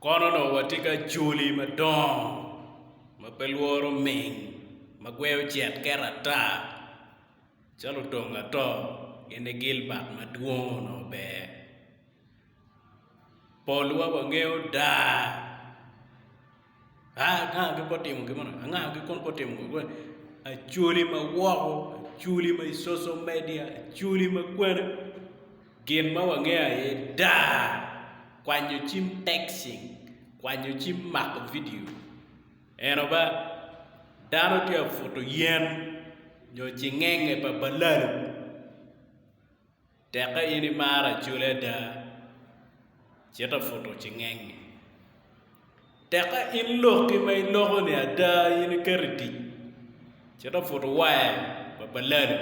Kono dong watye ki acholi madongo ma pe lworo ming ma gweyo cen kero ata calo otong ato gin ni Gilbat madwong onongo ber polwa wangeyo daa. Angago pe otimo gin moni, angago gi kun pe otimo gin moni, acwali ma woko, acwali ma i coco media, acwali ma kwene, gin ma wangeyo aye daa, kwanyo cim texting, kwanyo cim mako vidio, eno ba dano tye ka buto yen nyo cingenge pa balalo. Tekka in imaro acoli ada, cite ofuto cingengngi. Tekka in lokki ma iloko-ni ada in iketo i tic, cite ofuto waya pa balali.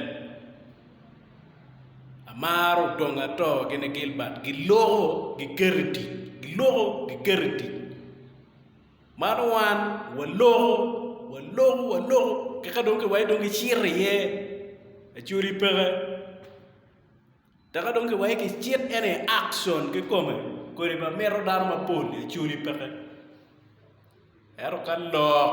Amaro odongo ato gini Gilbert, giloko giketo i tic, giloko giketo i tic. Man wan waloko, waloko, waloko ki ka dong ki wai dong ki cito iye actually peke teka dong ki wai ki cit ene i action ki kome kodi ma mito dano mapol actually peke ento ka lok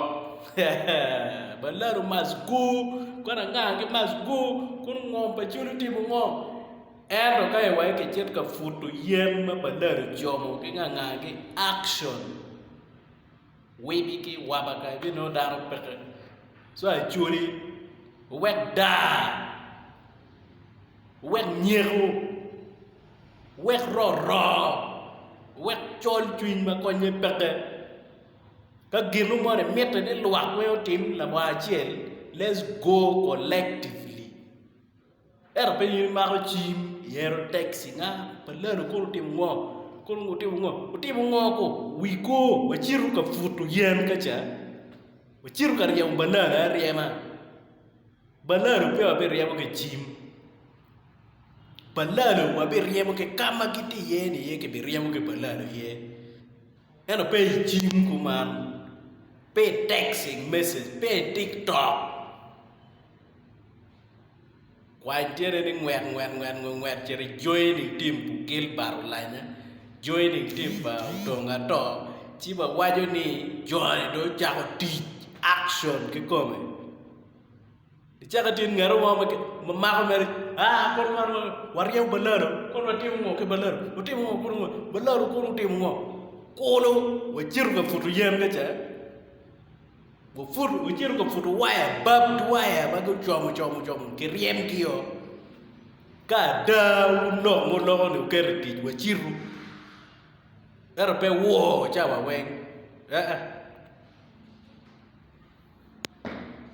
hehehe baladu must go kwan anga ki must go kunu ngo pa culu timo ngo. Ento ka iwai kicit ka puto yen ma balari jomo ki ngangagi action wigi ki wabaka ibinongo dano peke so acholi wek daa wek nyeko wek roro wek col cwiny ma konye peke ka ginu moni imite ni lwak weng otim lawacel let's go collectively. Ento piny in imako cim ihero taxi nga pa lalo kono otimo ngo kono ngo otimo ngo otimo ngo ko wi ko wacito ka puto yen ka ca wacito ka ryemo balalo aryema balalo pe wa biryemo ki cim balalo wa biryemo ki kama gitye iye ni aye ki biryemo ki balalo aye ento pe i cim kuman pe i taxi message pe i tiktok Kwai tyene ni ngwek ngwek ngwek ngwek ngwek cit ijoin i tim pu Gilbert Olanya, join i tim pa Odong Ato ci wawaco ni joni dong ocako tic action kikome. Icako itye ngeto mo ma mako mere aa kono man man waryemo balalo kono watimo ngo ki balalo watimo ngo kono balalo kono otimo ngo kono wacito ka puto yen ka ca. Guputo, gucito ka puto waya, babbed waya ma gucomo como como ki ryemgi o. Ka ada wulok ma wuloko ni wuketo i tic, wacitu. Ento pe woo cawa weng. Ee.